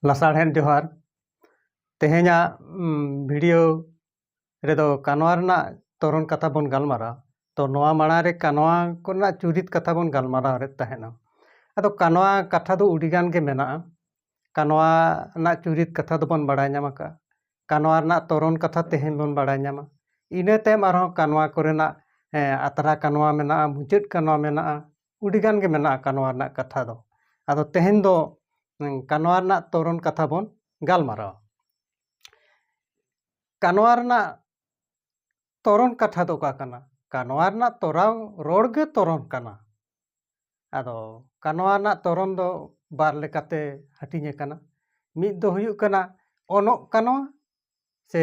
ᱞᱟᱥᱟᱲᱦᱮᱫ ᱡᱚᱦᱟᱨ ᱛᱮᱦᱮᱧᱟᱜ ᱵᱷᱤᱰᱤᱭᱳ ᱨᱮᱫᱚ ᱠᱟᱱᱣᱟ ᱨᱮᱱᱟᱜ ᱛᱚᱨᱚᱱ ᱠᱟᱛᱷᱟ ᱵᱚᱱ ᱜᱟᱞᱢᱟᱨᱟᱣᱟ ᱛᱚ ᱱᱚᱣᱟ ᱢᱟᱲᱟᱝ ᱨᱮ ᱠᱟᱱᱣᱟ ᱠᱚᱨᱮᱱᱟᱜ ᱪᱩᱨᱤᱛ ᱠᱟᱛᱷᱟ ᱵᱚᱱ ᱜᱟᱞᱢᱟᱨᱟᱣ ᱨᱮ ᱛᱟᱦᱮᱱᱟ ᱟᱫᱚ ᱠᱟᱱᱣᱟ ᱠᱟᱛᱷᱟ ᱫᱚ ᱟᱹᱰᱤᱜᱟᱱ ᱜᱮ ᱢᱮᱱᱟᱜᱼᱟ ᱠᱟᱱᱣᱟ ᱨᱮᱱᱟᱜ ᱪᱩᱨᱤᱛ ᱠᱟᱛᱷᱟ ᱫᱚᱵᱚᱱ ᱵᱟᱲᱟᱭ ᱧᱟᱢ ᱟᱠᱟᱫᱼᱟ ᱠᱟᱱᱣᱟ ᱨᱮᱱᱟᱜ ᱛᱚᱨᱚᱱ ᱠᱟᱛᱷᱟ ᱛᱮᱦᱮᱧ ᱵᱚᱱ ᱵᱟᱲᱟᱭ ᱧᱟᱢᱟ ᱤᱱᱟᱹ ᱛᱟᱭᱚᱢ ᱟᱨᱦᱚᱸ ᱠᱟᱱᱣᱟ ᱠᱚᱨᱮᱱᱟᱜ ᱟᱛᱨᱟ ᱠᱟᱱᱣᱟ ᱢᱮᱱᱟᱜᱼᱟ ᱢᱩᱪᱟᱹᱫ ᱠᱟᱱᱣᱟ ᱢᱮᱱᱟᱜᱼᱟ ᱟᱹᱰᱤ ᱜᱟᱱ ᱜᱮ ᱢᱮᱱᱟᱜᱼᱟ ᱠᱟᱱᱣᱟ ᱨᱮᱱᱟᱜ ᱠᱟᱛᱷᱟ ᱫᱚ ᱟᱫᱚ ᱛᱮᱦᱮᱧ ᱫᱚ ᱠᱟᱱᱣᱟ ᱨᱮᱱᱟᱜ ᱛᱚᱨᱚᱱ ᱠᱟᱛᱷᱟ ᱵᱚᱱ ᱜᱟᱞᱢᱟᱨᱟᱣᱟ ᱠᱟᱱᱣᱟ ᱨᱮᱱᱟᱜ ᱛᱚᱨᱚᱱ ᱠᱟᱛᱷᱟ ᱫᱚ ᱚᱠᱟ ᱠᱟᱱᱟ ᱠᱟᱱᱣᱟ ᱨᱮᱱᱟᱜ ᱛᱚᱨᱟᱣ ᱨᱚᱲ ᱜᱮ ᱛᱚᱨᱚᱱ ᱠᱟᱱᱟ ᱟᱫᱚ ᱠᱟᱱᱣᱟ ᱨᱮᱱᱟᱜ ᱛᱚᱨᱚᱱ ᱫᱚ ᱵᱟᱨ ᱞᱮᱠᱟᱛᱮ ᱦᱟᱹᱴᱤᱧ ᱟᱠᱟᱱᱟ ᱢᱤᱫ ᱫᱚ ᱦᱩᱭᱩᱜ ᱠᱟᱱᱟ ᱚᱱᱚᱜ ᱠᱟᱱᱣᱟ ᱥᱮ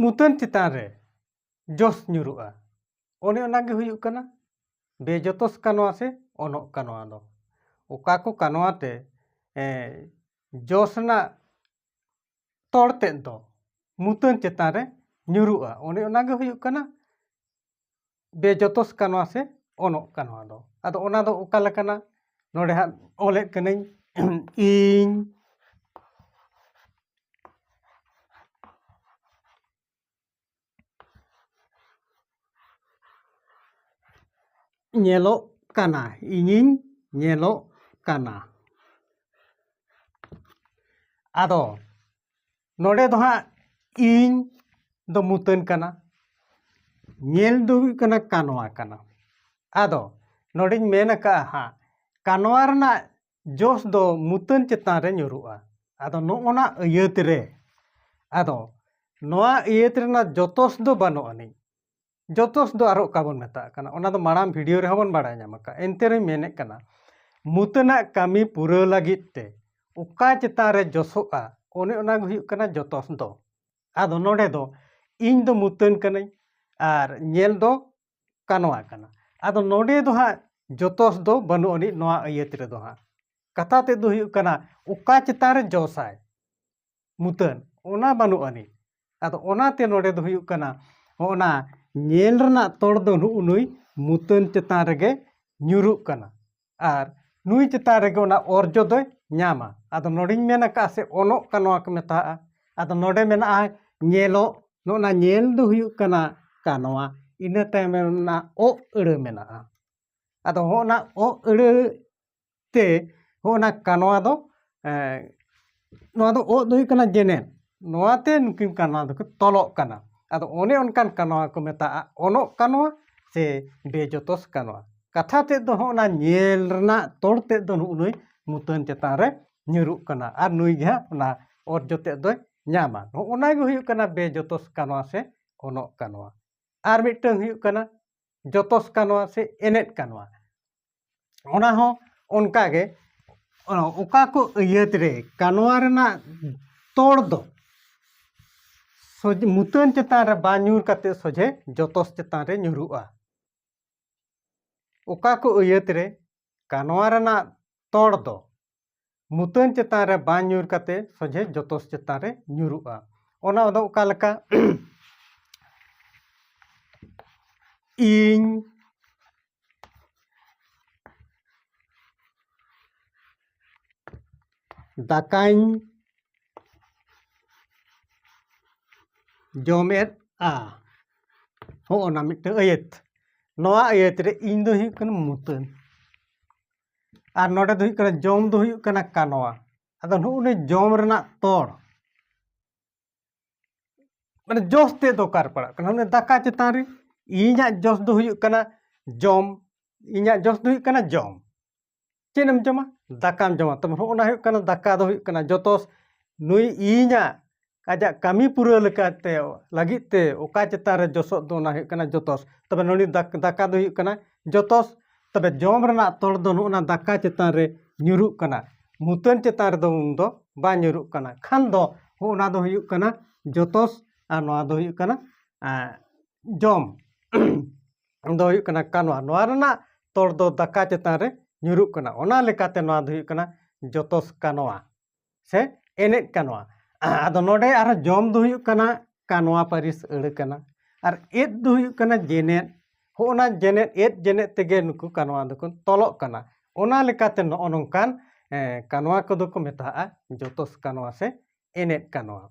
ᱢᱩᱛᱟᱹᱱ ᱪᱮᱛᱟᱱ ᱨᱮ ᱡᱚᱥ ᱧᱩᱨᱩᱜᱼᱟ ᱚᱱᱮ ᱚᱱᱟᱜᱮ ᱦᱩᱭᱩᱜ ᱠᱟᱱᱟ ᱵᱮᱡᱚᱛᱚᱥ ᱠᱟᱱᱣᱟ ᱥᱮ ᱚᱱᱚᱜ ᱠᱟᱱᱣᱟ ᱫᱚ ᱚᱠᱟ ᱠᱚ ᱠᱟᱱᱣᱟ ᱛᱮ ᱡᱚᱥ ᱨᱮᱱᱟᱜ ᱛᱚᱲ ᱛᱮᱫ ᱫᱚ ᱢᱩᱛᱟᱹᱱ ᱪᱮᱛᱟᱱ ᱨᱮ ᱧᱩᱨᱩᱜᱼᱟ ᱚᱱᱮ ᱚᱱᱟᱜᱮ ᱦᱩᱭᱩᱜ ᱠᱟᱱᱟ ᱵᱮᱡᱚᱛᱚᱥ ᱠᱟᱱᱟ ᱥᱮ ᱚᱱᱚᱜ ᱠᱟᱱᱟ ᱱᱚᱣᱟ ᱫᱚ ᱟᱫᱚ ᱚᱱᱟ ᱫᱚ ᱚᱠᱟ ᱞᱮᱠᱟᱱᱟ ᱱᱚᱰᱮ ᱦᱟᱸᱜ ᱚᱞᱮᱫ ᱠᱟᱹᱱᱟᱹᱧ ᱤᱧ ᱧᱮᱞᱚᱜ ᱠᱟᱱᱟ ᱤᱧᱤᱧ ᱧᱮᱞᱚᱜ ᱠᱟᱱᱟ ᱟᱫᱚ ᱱᱚᱰᱮ ᱫᱚ ᱦᱟᱸᱜ ᱤᱧ ᱫᱚ ᱢᱩᱛᱟᱹᱱ ᱠᱟᱱᱟ ᱧᱮᱞ ᱫᱚ ᱦᱩᱭᱩᱜ ᱠᱟᱱᱟ ᱠᱟᱱᱣᱟ ᱠᱟᱱᱟ ᱟᱫᱚ ᱱᱚᱰᱮᱧ ᱢᱮᱱ ᱟᱠᱟᱫᱼᱟ ᱦᱟᱸᱜ ᱠᱟᱱᱣᱟ ᱨᱮᱱᱟᱜ ᱡᱚᱥ ᱫᱚ ᱢᱩᱛᱟᱹᱱ ᱪᱮᱛᱟᱱ ᱨᱮ ᱧᱩᱨᱩᱜᱼᱟ ᱟᱫᱚ ᱱᱚᱜᱼᱚᱱᱟ ᱟᱹᱭᱟᱹᱛ ᱨᱮ ᱟᱫᱚ ᱱᱚᱣᱟ ᱟᱹᱭᱟᱹᱛ ᱨᱮᱱᱟᱜ ᱡᱚᱛᱚᱥ ᱫᱚ ᱵᱟᱹᱱᱩᱜ ᱟᱹᱱᱤᱡ ᱡᱚᱛᱚᱥ ᱫᱚ ᱟᱨᱚ ᱚᱠᱟ ᱵᱚᱱ ᱢᱮᱛᱟᱜ ᱠᱟᱱᱟ ᱚᱱᱟ ᱫᱚ ᱢᱟᱲᱟᱝ ᱵᱷᱤᱰᱤᱭᱳ ᱨᱮᱦᱚᱸ ᱵᱚᱱ ᱵᱟᱲᱟᱭ ᱧᱟᱢ ᱟᱠᱟᱫ ᱮᱱᱛᱮ ᱨᱮᱦᱚᱸ ᱢᱮᱱᱮᱫ ᱠᱟᱱᱟ ᱢᱩᱛᱟᱹᱱᱟᱜ ᱠᱟᱹᱢᱤ ᱯᱩᱨᱟᱹᱣ ᱞᱟᱹᱜᱤᱫ ᱛᱮ ᱚᱠᱟ ᱪᱮᱛᱟᱱ ᱨᱮ ᱡᱚᱥᱚᱜᱼᱟ ᱚᱱᱮ ᱚᱱᱟ ᱜᱮ ᱦᱩᱭᱩᱜ ᱠᱟᱱᱟ ᱡᱚᱛᱚᱥ ᱫᱚ ᱟᱫᱚ ᱱᱚᱰᱮ ᱫᱚ ᱤᱧ ᱫᱚ ᱢᱩᱛᱟᱹᱱ ᱠᱟᱹᱱᱟᱹᱧ ᱟᱨ ᱧᱮᱞ ᱫᱚ ᱠᱟᱱᱣᱟ ᱠᱟᱱᱟ ᱟᱫᱚ ᱱᱚᱰᱮ ᱫᱚ ᱦᱟᱸᱜ ᱡᱚᱛᱚᱥ ᱫᱚ ᱵᱟᱹᱱᱩᱜ ᱟᱹᱱᱤᱡ ᱱᱚᱣᱟ ᱟᱹᱭᱟᱹᱛ ᱨᱮᱫᱚ ᱦᱟᱸᱜ ᱠᱟᱛᱷᱟ ᱛᱮᱫ ᱫᱚ ᱦᱩᱭᱩᱜ ᱠᱟᱱᱟ ᱚᱠᱟ ᱪᱮᱛᱟᱱ ᱨᱮ ᱡᱚᱥᱟᱭ ᱢᱩᱛᱟᱹᱱ ᱚᱱᱟ ᱵᱟᱹᱱᱩᱜ ᱟᱹᱱᱤᱡ ᱟᱫᱚ ᱚᱱᱟᱛᱮ ᱱᱚᱰᱮ ᱫᱚ ᱦᱩᱭᱩᱜ ᱠᱟᱱᱟ ᱚᱱᱟ ᱧᱮᱞ ᱨᱮᱱᱟᱜ ᱛᱚᱲ ᱫᱚ ᱱᱩᱜ ᱱᱩᱭ ᱢᱩᱛᱟᱹᱱ ᱪᱮᱛᱟᱱ ᱨᱮᱜᱮ ᱧᱩᱨᱩᱜ ᱠᱟᱱᱟ ᱟᱨ ᱱᱩᱭ ᱪᱮᱛᱟᱱ ᱨᱮᱜᱮ ᱚᱱᱟ ᱚᱨᱡᱚ ᱫᱚᱭ ᱧᱟᱢᱟ ᱟᱫᱚ ᱱᱚᱰᱮᱧ ᱢᱮᱱ ᱟᱠᱟᱫᱼᱟ ᱥᱮ ᱚᱱᱚᱜ ᱠᱟᱱᱟ ᱱᱚᱣᱟ ᱠᱚ ᱢᱮᱛᱟᱜᱼᱟ ᱟᱫᱚ ᱱᱚᱰᱮ ᱢᱮᱱᱟᱜᱼᱟ ᱧᱮᱞᱚᱜ ᱱᱚᱜᱼᱚ ᱱᱟ ᱧᱮᱞ ᱫᱚ ᱦᱩᱭᱩᱜ ᱠᱟᱱᱟ ᱠᱟᱱᱣᱟ ᱤᱱᱟᱹ ᱛᱟᱭᱚᱢ ᱨᱮᱱᱟᱜ ᱚᱜ ᱟᱹᱲᱟᱹ ᱢᱮᱱᱟᱜᱼᱟ ᱟᱫᱚ ᱦᱚᱸᱜᱼᱚ ᱱᱟ ᱚᱜ ᱟᱹᱲᱟᱹ ᱛᱮ ᱦᱚᱸᱜᱼᱚ ᱱᱟ ᱠᱟᱱᱣᱟ ᱫᱚ ᱱᱚᱣᱟ ᱫᱚ ᱚᱸᱜ ᱫᱚ ᱦᱩᱭᱩᱜ ᱠᱟᱱᱟ ᱡᱮᱱᱮᱨ ᱱᱚᱣᱟ ᱛᱮ ᱱᱩᱠᱤᱱ ᱠᱟᱱᱣᱟ ᱫᱚᱠᱤᱱ ᱛᱚᱞᱚᱜ ᱠᱟᱱᱟ ᱟᱫᱚ ᱚᱱᱮ ᱚᱱᱠᱟᱱ ᱠᱟᱱᱣᱟ ᱠᱚ ᱢᱮᱛᱟᱜᱼᱟ ᱚᱱᱚᱜ ᱠᱟᱱᱣᱟ ᱥᱮ ᱵᱮᱡᱚᱛᱚᱥ ᱠᱟᱱᱣᱟ ᱠᱟᱛᱷᱟ ᱛᱮᱫ ᱫᱚ ᱦᱚᱸᱜᱼᱚ ᱱᱟ ᱧᱮᱞ ᱨᱮᱱᱟᱜ ᱛᱚᱲ ᱛᱮᱫ ᱫᱚ ᱱᱩᱜ ᱱᱩᱭ ᱢᱩᱛᱟᱹᱱ ᱪᱮᱛᱟᱱ ᱨᱮ ᱧᱩᱨᱩᱜ ᱠᱟᱱᱟ ᱟᱨ ᱱᱩᱭ ᱜᱮ ᱦᱟᱸᱜ ᱚᱱᱟ ᱚᱨᱡᱚ ᱛᱮᱫ ᱫᱚᱭ ᱧᱟᱢᱟ ᱱᱚᱜᱼᱚ ᱱᱟ ᱜᱮ ᱦᱩᱭᱩᱜ ᱠᱟᱱᱟ ᱵᱮᱡᱚᱛᱚᱥ ᱠᱟᱱᱣᱟ ᱥᱮ ᱚᱱᱚᱜ ᱠᱟᱱᱣᱟ ᱟᱨ ᱢᱤᱫᱴᱟᱹᱝ ᱦᱩᱭᱩᱜ ᱠᱟᱱᱟ ᱡᱚᱛᱚᱥ ᱠᱟᱱᱣᱟ ᱥᱮ ᱮᱱᱮᱡ ᱠᱟᱱᱣᱟ ᱚᱱᱟ ᱦᱚᱸ ᱚᱱᱠᱟ ᱜᱮ ᱚᱠᱟ ᱠᱚ ᱟᱹᱭᱟᱹᱛ ᱨᱮ ᱠᱟᱱᱣᱟ ᱨᱮᱱᱟᱜ ᱛᱚᱲ ᱫᱚ ᱢᱩᱛᱟᱹᱱ ᱪᱮᱛᱟᱱ ᱨᱮ ᱵᱟᱝ ᱧᱩᱨ ᱠᱟᱛᱮ ᱥᱚᱡᱷᱮ ᱡᱚᱛᱚᱥ ᱪᱮᱛᱟᱱ ᱨᱮ ᱧᱩᱨᱩᱜᱼᱟ ᱚᱠᱟ ᱠᱚ ᱟᱹᱭᱟᱹᱛ ᱨᱮ ᱠᱟᱱᱣᱟ ᱨᱮᱱᱟᱜ ᱛᱚᱲ ᱫᱚ ᱢᱩᱛᱟᱹᱱ ᱪᱮᱛᱟᱱ ᱨᱮ ᱵᱟᱝ ᱧᱩᱨ ᱠᱟᱛᱮ ᱥᱚᱡᱷᱮ ᱡᱚᱛᱚᱥ ᱪᱮᱛᱟᱱ ᱨᱮ ᱧᱩᱨᱩᱜᱼᱟ ᱚᱱᱟ ᱫᱚ ᱚᱠᱟ ᱞᱮᱠᱟ ᱤᱧ ᱫᱟᱠᱟᱧ ᱡᱚᱢᱮᱫᱼᱟ ᱦᱚᱸᱜᱼᱚ ᱱᱟ ᱢᱤᱫᱴᱟᱹᱝ ᱟᱹᱭᱟᱹᱛ ᱱᱚᱣᱟ ᱟᱹᱭᱟᱹᱛ ᱨᱮ ᱤᱧ ᱫᱚ ᱦᱩᱭᱩᱜ ᱠᱟᱱᱟ ᱢᱩᱛᱟᱹᱱ ᱟᱨ ᱱᱚᱰᱮ ᱫᱚ ᱦᱩᱭᱩᱜ ᱠᱟᱱᱟ ᱡᱚᱢ ᱫᱚ ᱦᱩᱭᱩᱜ ᱠᱟᱱᱟ ᱠᱟᱱᱣᱟ ᱟᱫᱚ ᱱᱩᱜᱼᱩ ᱱᱤ ᱡᱚᱢ ᱨᱮᱱᱟᱜ ᱛᱚᱲ ᱢᱟᱱᱮ ᱡᱚᱥ ᱛᱮ ᱫᱚᱨᱠᱟᱨ ᱯᱟᱲᱟᱜ ᱠᱟᱱᱟ ᱚᱱᱮ ᱫᱟᱠᱟ ᱪᱮᱛᱟᱱ ᱨᱮ ᱤᱧᱟᱹᱜ ᱡᱚᱥ ᱫᱚ ᱦᱩᱭᱩᱜ ᱠᱟᱱᱟ ᱡᱚᱢ ᱤᱧᱟᱹᱜ ᱡᱚᱥ ᱫᱚ ᱦᱩᱭᱩᱜ ᱠᱟᱱᱟ ᱡᱚᱢ ᱪᱮᱫ ᱡᱚᱢᱟ ᱫᱟᱠᱟᱢ ᱡᱚᱢᱟ ᱛᱚᱵᱮ ᱦᱚᱸᱜᱼᱚ ᱱᱟ ᱦᱩᱭᱩᱜ ᱠᱟᱱᱟ ᱫᱟᱠᱟ ᱫᱚ ᱦᱩᱭᱩᱜ ᱠᱟᱱᱟ ᱡᱚᱛᱚ ᱱᱩᱭ ᱤᱧᱟᱹᱜ ᱟᱡᱟᱜ ᱠᱟᱹᱢᱤ ᱯᱩᱨᱟᱹᱣ ᱞᱮᱠᱟᱛᱮ ᱞᱟᱹᱜᱤᱫ ᱛᱮ ᱚᱠᱟ ᱪᱮᱛᱟᱱ ᱨᱮ ᱡᱚᱥᱚᱜ ᱫᱚ ᱚᱱᱟ ᱦᱩᱭᱩᱜ ᱠᱟᱱᱟ ᱡᱚᱛᱚᱥ ᱛᱚᱵᱮ ᱱᱚᱰᱮ ᱫᱟᱠᱟ ᱫᱚ ᱦᱩᱭᱩᱜ ᱠᱟᱱᱟ ᱡᱚᱛᱚᱥ ᱛᱚᱵᱮ ᱡᱚᱢ ᱨᱮᱱᱟᱜ ᱛᱚᱲ ᱫᱚ ᱱᱚᱜᱼᱚ ᱱᱟ ᱫᱟᱠᱟ ᱪᱮᱛᱟᱱ ᱨᱮ ᱧᱩᱨᱩᱜ ᱠᱟᱱᱟ ᱢᱩᱛᱟᱹᱱ ᱪᱮᱛᱟᱱ ᱨᱮᱫᱚ ᱩᱱ ᱫᱚ ᱵᱟᱝ ᱧᱩᱨᱩᱜ ᱠᱟᱱᱟ ᱠᱷᱟᱱ ᱫᱚ ᱚᱱᱟ ᱫᱚ ᱦᱩᱭᱩᱜ ᱠᱟᱱᱟ ᱡᱚᱛᱚᱥ ᱟᱨ ᱱᱚᱣᱟ ᱫᱚ ᱦᱩᱭᱩᱜ ᱠᱟᱱᱟ ᱡᱚᱢ ᱫᱚ ᱦᱩᱭᱩᱜ ᱠᱟᱱᱟ ᱠᱟᱱᱣᱟ ᱱᱚᱣᱟ ᱨᱮᱱᱟᱜ ᱛᱚᱲ ᱫᱚ ᱫᱟᱠᱟ ᱪᱮᱛᱟᱱ ᱨᱮ ᱧᱩᱨᱩᱜ ᱠᱟᱱᱟ ᱚᱱᱟ ᱞᱮᱠᱟᱛᱮ ᱱᱚᱣᱟ ᱫᱚ ᱦᱩᱭᱩᱜ ᱠᱟᱱᱟ ᱡᱚᱛᱚᱥ ᱠᱟᱱᱣᱟ ᱥᱮ ᱮᱱᱮᱡ ᱠᱟᱱᱣᱟ ᱟᱫᱚ ᱱᱚᱰᱮ ᱟᱨᱦᱚᱸ ᱡᱚᱢ ᱫᱚ ᱦᱩᱭᱩᱜ ᱠᱟᱱᱟ ᱠᱟᱱᱣᱟ ᱯᱟᱹᱨᱤᱥ ᱟᱹᱲᱟᱹ ᱠᱟᱱᱟ ᱟᱨ ᱮᱫ ᱫᱚ ᱦᱩᱭᱩᱜ ᱠᱟᱱᱟ ᱡᱮᱱᱮᱫ ᱦᱚᱸᱜᱼᱚᱱᱟ ᱡᱮᱱᱮᱫ ᱮᱫ ᱡᱮᱱᱮᱫ ᱛᱮᱜᱮ ᱱᱩᱠᱩ ᱠᱟᱱᱣᱟ ᱫᱚᱠᱚ ᱛᱚᱞᱚᱜ ᱠᱟᱱᱟ ᱚᱱᱟ ᱞᱮᱠᱟᱛᱮ ᱱᱚᱜᱼᱚ ᱱᱚᱝᱠᱟᱱ ᱠᱟᱱᱣᱟ ᱠᱚᱫᱚ ᱠᱚ ᱢᱮᱛᱟᱜᱼᱟ ᱡᱚᱛᱚᱥ ᱠᱟᱱᱣᱟ ᱥᱮ ᱮᱱᱮᱡ ᱠᱟᱱᱣᱟ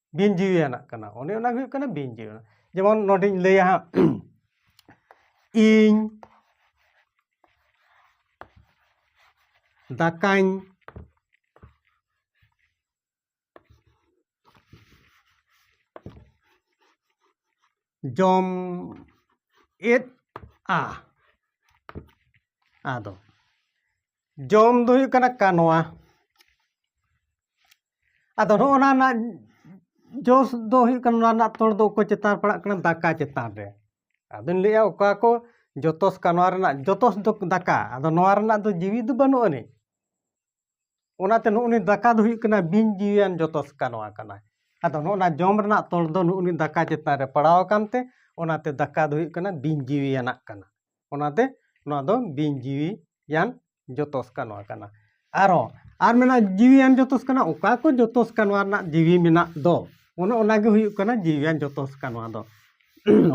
ᱵᱤᱱ ᱡᱤᱣᱤᱭᱟᱱᱟᱜ ᱠᱟᱱᱟ ᱚᱱᱮ ᱚᱱᱟ ᱦᱩᱭᱩᱜ ᱠᱟᱱᱟ ᱵᱤᱱ ᱡᱤᱣᱤᱭᱟᱱᱟᱜ ᱡᱮᱢᱚᱱ ᱱᱚᱰᱮᱧ ᱞᱟᱹᱭᱟ ᱦᱟᱸᱜ ᱤᱧ ᱫᱟᱠᱟᱧ ᱡᱚᱢ ᱮᱫᱼᱟ ᱟᱫᱚ ᱡᱚᱢ ᱫᱚ ᱦᱩᱭᱩᱜ ᱠᱟᱱᱟ ᱠᱟᱱᱣᱟ ᱟᱫᱚ ᱱᱚᱜᱼᱚ ᱱᱟ ᱨᱮᱱᱟᱜ ᱡᱚᱥ ᱫᱚ ᱦᱩᱭᱩᱜ ᱠᱟᱱᱟ ᱱᱚᱣᱟ ᱨᱮᱱᱟᱜ ᱛᱚᱲ ᱫᱚ ᱚᱠᱚᱭ ᱪᱮᱛᱟᱱ ᱯᱟᱲᱟᱜ ᱠᱟᱱᱟ ᱫᱟᱠᱟ ᱪᱮᱛᱟᱱ ᱨᱮ ᱟᱫᱚᱧ ᱞᱟᱹᱭᱮᱜᱼᱟ ᱚᱠᱟ ᱠᱚ ᱡᱚᱛᱚᱥ ᱠᱟᱱᱣᱟ ᱨᱮᱱᱟᱜ ᱡᱚᱛᱚᱥ ᱫᱚ ᱫᱟᱠᱟ ᱟᱫᱚ ᱱᱚᱣᱟ ᱨᱮᱱᱟᱜ ᱫᱚ ᱡᱤᱣᱤ ᱫᱚ ᱵᱟᱹᱱᱩᱜ ᱟᱹᱱᱤᱡ ᱚᱱᱟᱛᱮ ᱱᱩᱜ ᱩᱱᱤ ᱫᱟᱠᱟ ᱫᱚ ᱦᱩᱭᱩᱜ ᱠᱟᱱᱟ ᱵᱤᱱ ᱡᱤᱣᱤᱭᱟᱱ ᱡᱚᱛᱚᱥ ᱠᱟᱱᱣᱟ ᱠᱟᱱᱟ ᱟᱫᱚ ᱱᱚᱜᱼᱚ ᱱᱟ ᱡᱚᱢ ᱨᱮᱱᱟᱜ ᱛᱚᱲ ᱫᱚ ᱱᱩᱜ ᱩᱱᱤ ᱫᱟᱠᱟ ᱪᱮᱛᱟᱱ ᱨᱮ ᱯᱟᱲᱟᱣ ᱟᱠᱟᱱ ᱛᱮ ᱚᱱᱟᱛᱮ ᱫᱟᱠᱟ ᱫᱚ ᱦᱩᱭᱩᱜ ᱠᱟᱱᱟ ᱵᱤᱱ ᱡᱤᱣᱤᱭᱟᱱᱟᱜ ᱠᱟᱱᱟ ᱚᱱᱟᱛᱮ ᱱᱚᱣᱟ ᱫᱚ ᱵᱤᱧ ᱡᱤᱣᱤᱭᱟᱱ ᱡᱚᱛᱚᱥ ᱠᱟᱱᱣᱟ ᱠᱟᱱᱟ ᱟᱨᱦᱚᱸ ᱟᱨ ᱢᱮᱱᱟᱜᱼᱟ ᱡᱤᱣᱤᱭᱟᱱ ᱡᱚᱛᱚᱥ ᱠᱟᱱᱟ ᱚᱠᱟ ᱠᱚ ᱡᱚᱛᱚᱥ ᱠᱟᱱᱣᱟ ᱨᱮᱱᱟᱜ ᱡᱤᱣᱤ ᱢᱮᱱᱟᱜ ᱫᱚ ᱚᱱᱮ ᱚᱱᱟᱜᱮ ᱦᱩᱭᱩᱜ ᱠᱟᱱᱟ ᱡᱤᱣᱤᱭᱟᱱ ᱡᱚᱛᱚᱥ ᱠᱟᱱᱣᱟ ᱫᱚ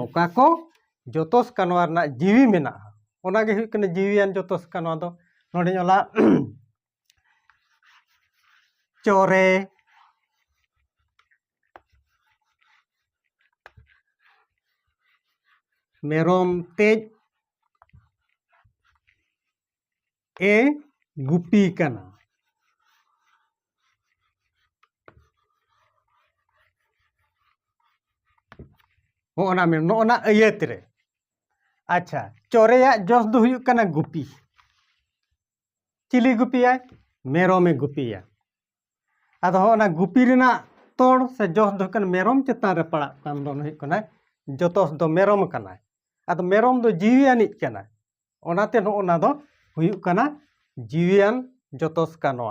ᱚᱠᱟ ᱠᱚ ᱡᱚᱛᱚᱥ ᱠᱟᱱᱣᱟ ᱨᱮᱱᱟᱜ ᱡᱤᱣᱤ ᱢᱮᱱᱟᱜᱼᱟ ᱚᱱᱟᱜᱮ ᱦᱩᱭᱩᱜ ᱠᱟᱱᱟ ᱡᱤᱣᱤᱭᱟᱱ ᱡᱚᱛᱚᱥ ᱠᱟᱱᱣᱟ ᱫᱚ ᱱᱚᱰᱮᱧ ᱚᱞᱟ ᱪᱚᱨᱮ ᱢᱮᱨᱚᱢ ᱛᱮᱡ ᱮ ᱜᱩᱯᱤ ᱠᱟᱱᱟ ᱦᱚᱸᱜᱼᱚ ᱱᱟ ᱢᱮᱱ ᱱᱚᱜᱼᱚ ᱱᱟ ᱟᱹᱭᱟᱹᱛ ᱨᱮ ᱟᱪᱪᱷᱟ ᱪᱚᱨᱮᱭᱟᱜ ᱡᱚᱥ ᱫᱚ ᱦᱩᱭᱩᱜ ᱠᱟᱱᱟ ᱜᱩᱯᱤ ᱪᱤᱞᱤ ᱜᱩᱯᱤᱭᱟᱭ ᱢᱮᱨᱚᱢᱮ ᱜᱩᱯᱤᱭᱟ ᱟᱫᱚ ᱦᱚᱸ ᱚᱱᱟ ᱜᱩᱯᱤ ᱨᱮᱱᱟᱜ ᱛᱚᱲ ᱥᱮ ᱡᱚᱥ ᱫᱚ ᱦᱩᱭᱩᱜ ᱠᱟᱱᱟ ᱢᱮᱨᱚᱢ ᱪᱮᱛᱟᱱ ᱨᱮ ᱯᱟᱲᱟᱜ ᱠᱟᱱ ᱫᱚ ᱦᱩᱭᱩᱜ ᱠᱟᱱᱟ ᱡᱚᱛᱚᱥ ᱫᱚ ᱢᱮᱨᱚᱢ ᱠᱟᱱᱟᱭ ᱟᱫᱚ ᱢᱮᱨᱚᱢ ᱫᱚ ᱡᱤᱣᱤ ᱟᱹᱱᱤᱡ ᱠᱟᱱᱟ ᱚᱱᱟᱛᱮ ᱱᱚᱜᱼᱚ ᱱᱟ ᱫᱚ ᱦᱩᱭᱩᱜ ᱠᱟᱱᱟ ᱡᱤᱣᱤᱭᱟᱱ ᱡᱚᱛᱚᱥ ᱠᱟᱱᱟ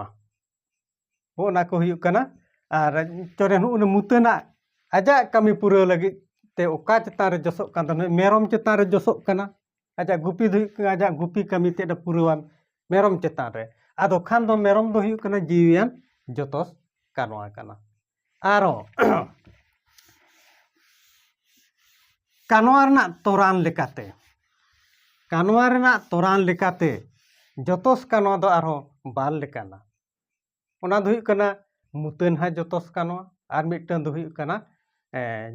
ᱚᱱᱟ ᱠᱚ ᱦᱩᱭᱩᱜ ᱠᱟᱱᱟ ᱟᱨ ᱪᱚᱨᱮ ᱱᱩᱜᱼᱩ ᱱᱩᱭ ᱢᱩᱛᱟᱹᱱᱟᱜ ᱟᱡᱟᱜ ᱠᱟᱹᱢᱤ ᱯᱩᱨᱟᱹᱣ ᱞᱟᱹᱜᱤᱫ ᱛᱮ ᱚᱠᱟ ᱪᱮᱛᱟᱱ ᱨᱮ ᱡᱚᱥᱚᱜ ᱠᱟᱱ ᱛᱟᱦᱮᱱᱟ ᱢᱮᱨᱚᱢ ᱪᱮᱛᱟᱱ ᱨᱮ ᱡᱚᱥᱚᱜ ᱠᱟᱱᱟ ᱟᱡᱟᱜ ᱜᱩᱯᱤ ᱫᱚ ᱦᱩᱭᱩᱜ ᱠᱟᱱᱟ ᱟᱡᱟᱜ ᱜᱩᱯᱤ ᱠᱟᱹᱢᱤ ᱛᱮᱫ ᱮ ᱯᱩᱨᱟᱹᱣᱟᱱ ᱢᱮᱨᱚᱢ ᱪᱮᱛᱟᱱ ᱨᱮ ᱟᱫᱚ ᱠᱷᱟᱱ ᱫᱚ ᱢᱮᱨᱚᱢ ᱫᱚ ᱦᱩᱭᱩᱜ ᱠᱟᱱᱟ ᱡᱤᱣᱤᱭᱟᱱ ᱡᱚᱛᱚᱥ ᱠᱟᱱᱣᱟ ᱠᱟᱱᱟ ᱟᱨᱚ ᱠᱟᱱᱣᱟ ᱨᱮᱱᱟᱜ ᱛᱚᱨᱟᱱ ᱞᱮᱠᱟᱛᱮ ᱠᱟᱱᱣᱟ ᱨᱮᱱᱟᱜ ᱛᱚᱨᱟᱱ ᱞᱮᱠᱟᱛᱮ ᱡᱚᱛᱚᱥ ᱠᱟᱱᱣᱟ ᱫᱚ ᱟᱨᱦᱚᱸ ᱵᱟᱨ ᱞᱮᱠᱟᱱᱟ ᱚᱱᱟ ᱫᱚ ᱦᱩᱭᱩᱜ ᱠᱟᱱᱟ ᱢᱩᱛᱟᱹᱱ ᱦᱟᱭ ᱡᱚᱛᱚᱥ ᱠᱟᱱᱣᱟ ᱟᱨ ᱢᱤᱫᱴᱟᱝ ᱫᱚ ᱦᱩᱭᱩᱜ ᱠᱟᱱᱟ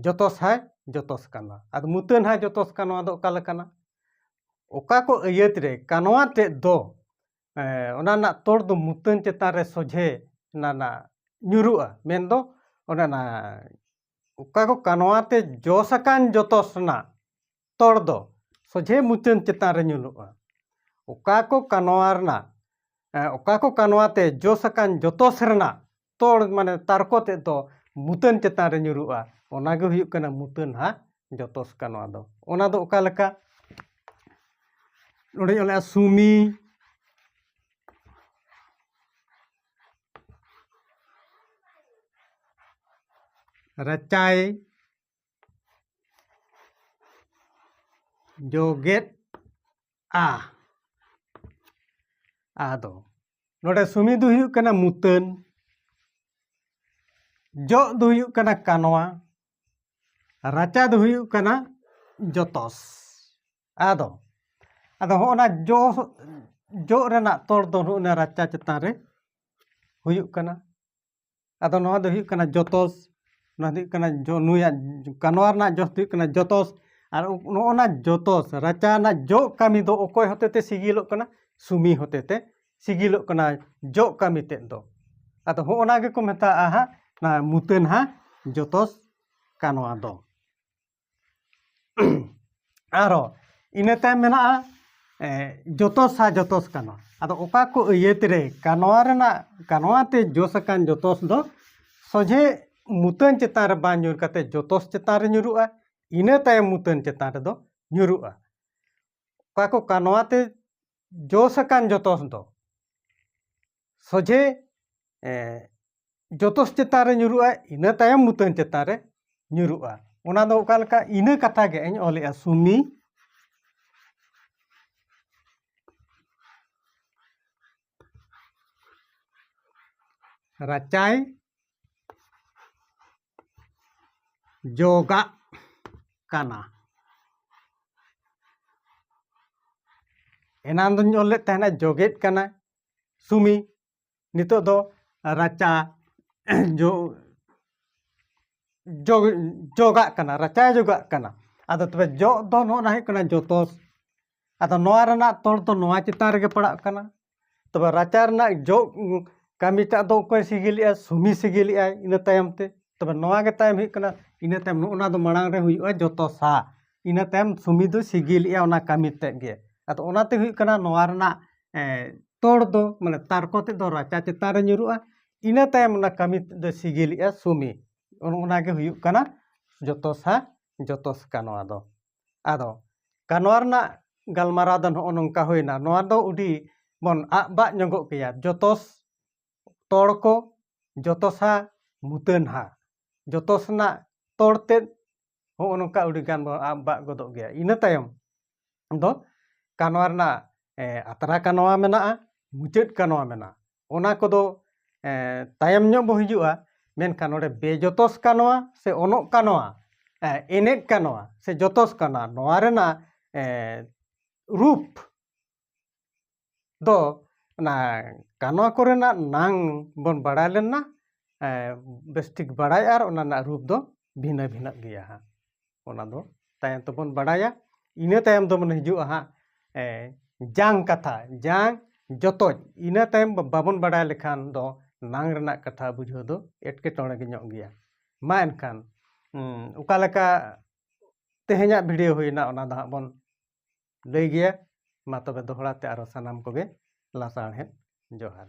ᱡᱚᱛᱚᱥ ᱦᱟᱭ ᱡᱚᱛᱚᱥ ᱠᱟᱱᱣᱟ ᱟᱫᱚ ᱢᱩᱛᱟᱹᱱ ᱦᱟᱭ ᱡᱚᱛᱚᱥ ᱠᱟᱱᱣᱟ ᱫᱚ ᱚᱠᱟ ᱞᱮᱠᱟᱱᱟ ᱚᱠᱟ ᱠᱚ ᱟᱹᱭᱟᱹᱛ ᱨᱮ ᱠᱟᱱᱣᱟ ᱛᱮᱫ ᱫᱚ ᱚᱱᱟ ᱨᱮᱱᱟᱜ ᱛᱚᱲ ᱫᱚ ᱢᱩᱛᱟᱹᱱ ᱪᱮᱛᱟᱱ ᱨᱮ ᱥᱚᱡᱷᱮ ᱚᱱᱟ ᱨᱮᱱᱟᱜ ᱧᱩᱨᱩᱜᱼᱟ ᱢᱮᱱ ᱫᱚ ᱚᱱᱮ ᱚᱱᱟ ᱚᱠᱟ ᱠᱚ ᱠᱟᱱᱣᱟ ᱛᱮ ᱡᱚᱥ ᱟᱠᱟᱱ ᱡᱚᱛᱚᱥ ᱨᱮᱱᱟᱜ ᱛᱚᱲ ᱫᱚ ᱥᱚᱡᱷᱮ ᱢᱩᱛᱟᱹᱱ ᱪᱮᱛᱟᱱ ᱨᱮ ᱧᱩᱨᱩᱜᱼᱟ ᱚᱠᱟ ᱠᱚ ᱠᱟᱱᱣᱟ ᱨᱮᱱᱟᱜ ᱚᱠᱟ ᱠᱚ ᱠᱟᱱᱣᱟ ᱛᱮ ᱡᱚᱥ ᱟᱠᱟᱱ ᱡᱚᱛᱚᱥ ᱨᱮᱱᱟᱜ ᱛᱚᱲ ᱢᱟᱱᱮ ᱛᱟᱨᱠᱚ ᱛᱮᱫ ᱫᱚ ᱢᱩᱛᱟᱹᱱ ᱪᱮᱛᱟᱱ ᱨᱮ ᱧᱩᱨᱩᱜᱼᱟ ᱚᱱᱟ ᱜᱮ ᱦᱩᱭᱩᱜ ᱠᱟᱱᱟ ᱢᱩᱛᱟᱹᱱ ᱦᱟᱜ ᱡᱚᱛᱚᱥ ᱠᱟ ᱱᱚᱣᱟ ᱫᱚ ᱚᱱᱟ ᱫᱚ ᱚᱠᱟ ᱞᱮᱠᱟ ᱱᱚᱰᱮ ᱚᱞᱮᱜᱼᱟ ᱥᱩᱢᱤ ᱨᱟᱪᱟᱭ ᱡᱚᱜᱮᱫ ᱟ ᱟᱫᱚ ᱱᱚᱰᱮ ᱥᱩᱢᱤ ᱫᱚ ᱦᱩᱭᱩᱜ ᱠᱟᱱᱟ ᱢᱩᱛᱟᱹᱱ ᱡᱚᱜ ᱫᱚ ᱦᱩᱭᱩᱜ ᱠᱟᱱᱟ ᱠᱟᱱᱣᱟ ᱨᱟᱪᱟ ᱫᱚ ᱦᱩᱭᱩᱜ ᱠᱟᱱᱟ ᱡᱚᱛᱚᱥ ᱟᱫᱚ ᱟᱫᱚ ᱦᱚᱸᱜᱼᱱᱟ ᱡᱚ ᱡᱚᱜ ᱨᱮᱱᱟᱜ ᱛᱚᱲ ᱫᱚ ᱱᱚᱜᱼᱱᱟ ᱨᱟᱪᱟ ᱪᱮᱛᱟᱱ ᱨᱮ ᱦᱩᱭᱩᱜ ᱠᱟᱱᱟ ᱟᱫᱚ ᱱᱚᱣᱟ ᱫᱚ ᱦᱩᱭᱩᱜ ᱠᱟᱱᱟ ᱡᱚᱛᱚᱥ ᱱᱚᱣᱟ ᱫᱚ ᱦᱩᱭᱩᱜ ᱠᱟᱱᱟ ᱱᱩᱭᱟᱜ ᱠᱟᱱᱣᱟ ᱨᱮᱱᱟᱜ ᱡᱚᱥ ᱫᱚ ᱦᱩᱭᱩᱜ ᱠᱟᱱᱟ ᱡᱚᱛᱚᱥ ᱟᱨ ᱱᱚᱜᱼᱚ ᱱᱟ ᱡᱚᱛᱚᱥ ᱨᱟᱪᱟ ᱨᱮᱱᱟᱜ ᱡᱚᱜ ᱠᱟᱹᱢᱤ ᱫᱚ ᱚᱠᱚᱭ ᱦᱚᱛᱮ ᱛᱮ ᱥᱤᱜᱤᱞᱚᱜ ᱠᱟᱱᱟ ᱥᱩᱢᱤ ᱦᱚᱛᱮ ᱛᱮ ᱥᱤᱜᱤᱞᱚᱜ ᱠᱟᱱᱟ ᱡᱚᱜ ᱠᱟᱹᱢᱤ ᱛᱮᱫ ᱫᱚ ᱟᱫᱚ ᱦᱚᱸᱜᱼᱚ ᱱᱟ ᱜᱮᱠᱚ ᱢᱮᱛᱟᱜᱼᱟ ᱦᱟᱸᱜ ᱱᱚᱣᱟ ᱢᱩᱛᱟᱹᱱ ᱦᱟᱸᱜ ᱡᱚᱛᱚᱥ ᱠᱟᱱᱣᱟ ᱫᱚ ᱟᱨᱚ ᱤᱱᱟᱹ ᱛᱟᱭᱚᱢ ᱢᱮᱱᱟᱜᱼᱟ ᱡᱚᱛᱚᱥ ᱟᱨ ᱡᱚᱛᱚᱥ ᱠᱟᱱᱣᱟ ᱟᱫᱚ ᱚᱠᱟ ᱠᱚ ᱟᱹᱭᱟᱹᱛ ᱨᱮ ᱠᱟᱱᱣᱟ ᱨᱮᱱᱟᱜ ᱠᱟᱱᱣᱟ ᱛᱮ ᱡᱚᱥ ᱟᱠᱟᱱ ᱡᱚᱛᱚᱥ ᱫᱚ ᱥᱚᱡᱷᱮ ᱢᱩᱛᱟᱹᱱ ᱪᱮᱛᱟᱱ ᱨᱮ ᱵᱟᱝ ᱧᱩᱨ ᱠᱟᱛᱮ ᱡᱚᱛᱚᱥ ᱪᱮᱛᱟᱱ ᱨᱮ ᱧᱩᱨᱩᱜᱼᱟ ᱤᱱᱟᱹ ᱛᱟᱭᱚᱢ ᱢᱩᱛᱟᱹᱱ ᱪᱮᱛᱟᱱ ᱨᱮᱫᱚ ᱧᱩᱨᱩᱜᱼᱟ ᱚᱠᱟ ᱠᱚ ᱠᱟᱱᱣᱟ ᱛᱮ ᱡᱚᱥ ᱟᱠᱟᱱ ᱡᱚᱛᱚᱥ ᱫᱚ ᱥᱚᱡᱷᱮ ᱡᱚᱛᱚᱥ ᱪᱮᱛᱟᱱ ᱨᱮ ᱧᱩᱨᱩᱜᱼᱟ ᱤᱱᱟᱹ ᱛᱟᱭᱚᱢ ᱢᱩᱛᱟᱹᱱ ᱪᱮᱛᱟᱱ ᱨᱮ ᱧᱩᱨᱩᱜᱼᱟ ᱚᱱᱟ ᱫᱚ ᱚᱠᱟ ᱞᱮᱠᱟ ᱤᱱᱟᱹ ᱠᱟᱛᱷᱟ ᱜᱮ ᱤᱧ ᱚᱞᱮᱜᱼᱟ ᱥᱩᱢᱤ ᱨᱟᱪᱟᱭ ᱡᱚᱜᱟᱜ ᱠᱟᱱᱟ ᱮᱱᱟᱱ ᱫᱚᱧ ᱚᱞ ᱞᱮᱫ ᱛᱟᱦᱮᱱᱟ ᱡᱚᱜᱮᱫ ᱠᱟᱱᱟ ᱥᱩᱢᱤ ᱱᱤᱛᱚᱜ ᱫᱚ ᱨᱟᱪᱟ ᱡᱚᱜ ᱡᱚᱜ ᱡᱚᱜᱟᱜ ᱠᱟᱱᱟ ᱨᱟᱪᱟᱭ ᱡᱚᱜᱟᱜ ᱠᱟᱱᱟ ᱟᱫᱚ ᱛᱚᱵᱮ ᱡᱚᱜ ᱫᱚ ᱱᱚᱜᱼᱚ ᱱᱟ ᱦᱩᱭᱩᱜ ᱠᱟᱱᱟ ᱡᱚᱛᱚᱥ ᱟᱫᱚ ᱱᱚᱣᱟ ᱨᱮᱱᱟᱜ ᱛᱚᱞ ᱫᱚ ᱱᱚᱣᱟ ᱪᱮᱛᱟᱱ ᱨᱮᱜᱮ ᱯᱟᱲᱟᱜ ᱠᱟᱱᱟ ᱛᱚᱵᱮ ᱨᱟᱪᱟ ᱨᱮᱱᱟᱜ ᱡᱚᱜ ᱠᱟᱹᱢᱤᱴᱟᱜ ᱫᱚ ᱚᱠᱚᱭ ᱥᱤᱜᱤᱞᱮᱜᱼᱟ ᱥᱩᱢᱤ ᱥᱤᱜᱤᱞᱮᱜᱼᱟᱭ ᱤᱱᱟᱹ ᱛᱟᱭᱚᱢ ᱛᱮ ᱛᱚᱵᱮ ᱱᱚᱣᱟ ᱜᱮ ᱛᱟᱭᱚᱢ ᱦᱩᱭᱩᱜ ᱠᱟᱱᱟ ᱤᱱᱟᱹ ᱛᱟᱭᱚᱢ ᱱᱚᱜᱼᱚ ᱱᱟ ᱫᱚ ᱢᱟᱲᱟᱝ ᱨᱮ ᱦᱩᱭᱩᱜᱼᱟ ᱡᱚᱛᱚᱥᱟ ᱤᱱᱟᱹ ᱛᱟᱭᱚᱢ ᱥᱩᱢᱤ ᱫᱚᱭ ᱥᱤᱜᱤᱞᱮᱜᱼᱟ ᱚᱱᱟ ᱠᱟᱹᱢᱤ ᱛᱮᱫ ᱜᱮ ᱟᱫᱚ ᱚᱱᱟᱛᱮ ᱦᱩᱭᱩᱜ ᱠᱟᱱᱟ ᱱᱚᱣᱟ ᱨᱮᱱᱟᱜ ᱛᱚᱲ ᱫᱚ ᱢᱟᱱᱮ ᱛᱟᱨᱠᱚ ᱛᱮᱫ ᱫᱚ ᱨᱟᱪᱟ ᱪᱮᱛᱟᱱ ᱨᱮ ᱧᱩᱨᱩᱜᱼᱟ ᱤᱱᱟᱹ ᱛᱟᱭᱚᱢ ᱚᱱᱟ ᱠᱟᱹᱢᱤ ᱛᱮᱫ ᱫᱚᱭ ᱥᱤᱜᱤᱞᱮᱜᱼᱟ ᱥᱩᱢᱤ ᱚᱱᱮ ᱚᱱᱟ ᱜᱮ ᱦᱩᱭᱩᱜ ᱠᱟᱱᱟ ᱡᱚᱛᱚ ᱥᱟ ᱡᱚᱛᱚ ᱥᱟ ᱠᱟᱱᱣᱟ ᱫᱚ ᱟᱫᱚ ᱠᱟᱱᱣᱟ ᱨᱮᱱᱟᱜ ᱜᱟᱞᱢᱟᱨᱟᱣ ᱫᱚ ᱱᱚᱜᱼᱚ ᱱᱚᱝᱠᱟ ᱦᱩᱭᱱᱟ ᱱᱚᱣᱟ ᱫᱚ ᱟᱹᱰᱤ ᱵᱚᱱ ᱟᱜ ᱵᱟᱜ ᱧᱚᱜᱚᱜ ᱜᱮᱭᱟ ᱡᱚᱛᱚ ᱛᱚᱲ ᱠᱚ ᱡᱚᱛᱚ ᱥᱟ ᱢᱩᱛᱟᱹᱱ ᱦᱟ ᱡᱚᱛᱚ ᱥᱮᱱᱟᱜ ᱛᱚᱲ ᱛᱮᱫ ᱦᱚᱸᱜᱼᱚ ᱱᱚᱝᱠᱟ ᱟᱹᱰᱤᱜᱟᱱ ᱵᱚᱱ ᱟᱵᱟᱜ ᱜᱚᱫᱚᱜ ᱜᱮᱭᱟ ᱤᱱᱟᱹ ᱛᱟᱭᱚᱢ ᱫᱚ ᱠᱟᱱᱣᱟ ᱨᱮᱱᱟᱜ ᱟᱛᱨᱟ ᱠᱟᱱᱣᱟ ᱢᱮᱱᱟᱜᱼᱟ ᱢᱩᱪᱟᱹᱫ ᱠᱟᱱᱣᱟ ᱢᱮᱱᱟᱜᱼᱟ ᱚᱱᱟ ᱠᱚᱫᱚ ᱛᱟᱭᱚᱢ ᱧᱚᱜ ᱵᱚ ᱦᱤᱡᱩᱜᱼᱟ ᱢᱮᱱᱠᱷᱟᱱ ᱱᱚᱰᱮ ᱵᱮᱡᱚᱛᱚᱥ ᱠᱟᱱᱣᱟ ᱥᱮ ᱚᱱᱚᱜ ᱠᱟᱱᱣᱟ ᱮᱱᱮᱡ ᱠᱟᱱᱣᱟ ᱥᱮ ᱡᱚᱛᱚᱥ ᱠᱟᱱᱟ ᱱᱚᱣᱟ ᱨᱮᱱᱟᱜ ᱨᱩᱯ ᱫᱚ ᱚᱱᱟ ᱠᱟᱱᱣᱟ ᱠᱚᱨᱮᱱᱟᱜ ᱱᱟᱝ ᱵᱚᱱ ᱵᱟᱲᱟᱭ ᱞᱮᱱᱟ ᱵᱮᱥ ᱴᱷᱤᱠ ᱵᱟᱲᱟᱭ ᱟᱨ ᱚᱱᱟ ᱨᱮᱱᱟᱜ ᱨᱩᱯ ᱫᱚ ᱵᱷᱤᱱᱟᱹ ᱵᱷᱤᱱᱟᱹᱜ ᱜᱮᱭᱟ ᱦᱟᱸᱜ ᱚᱱᱟ ᱫᱚ ᱛᱟᱭᱚᱢ ᱛᱮᱵᱚᱱ ᱵᱟᱲᱟᱭᱟ ᱤᱱᱟᱹ ᱛᱟᱭᱚᱢ ᱫᱚ ᱢᱟᱱᱮ ᱦᱤᱡᱩᱜᱼᱟ ᱦᱟᱸᱜ ᱡᱟᱝ ᱠᱟᱛᱷᱟ ᱡᱟᱝ ᱡᱚᱛᱚᱡ ᱤᱱᱟᱹ ᱛᱟᱭᱚᱢ ᱵᱟᱵᱚᱱ ᱵᱟᱲᱟᱭ ᱞᱮᱠᱷᱟᱱ ᱫᱚ ᱱᱟᱝ ᱨᱮᱱᱟᱜ ᱠᱟᱛᱷᱟ ᱵᱩᱡᱷᱟᱹᱣ ᱫᱚ ᱮᱴᱠᱮᱴᱚᱬᱮ ᱜᱮ ᱧᱚᱜ ᱜᱮᱭᱟ ᱢᱟ ᱮᱱᱠᱷᱟᱱ ᱚᱠᱟ ᱞᱮᱠᱟ ᱛᱮᱦᱮᱧᱟᱜ ᱵᱷᱤᱰᱤᱭᱳ ᱦᱩᱭᱱᱟ ᱚᱱᱟ ᱫᱚ ᱦᱟᱸᱜ ᱵᱚᱱ ᱞᱟᱹᱭ ᱜᱮᱭᱟ ᱢᱟ ᱛᱚᱵᱮ ᱫᱚᱦᱲᱟ ᱛᱮ ᱟᱨᱚ ᱥᱟᱱᱟᱢ ᱠᱚᱜᱮ ᱞᱟᱥᱟᱬᱦᱮᱫ ᱡᱚᱦᱟᱨ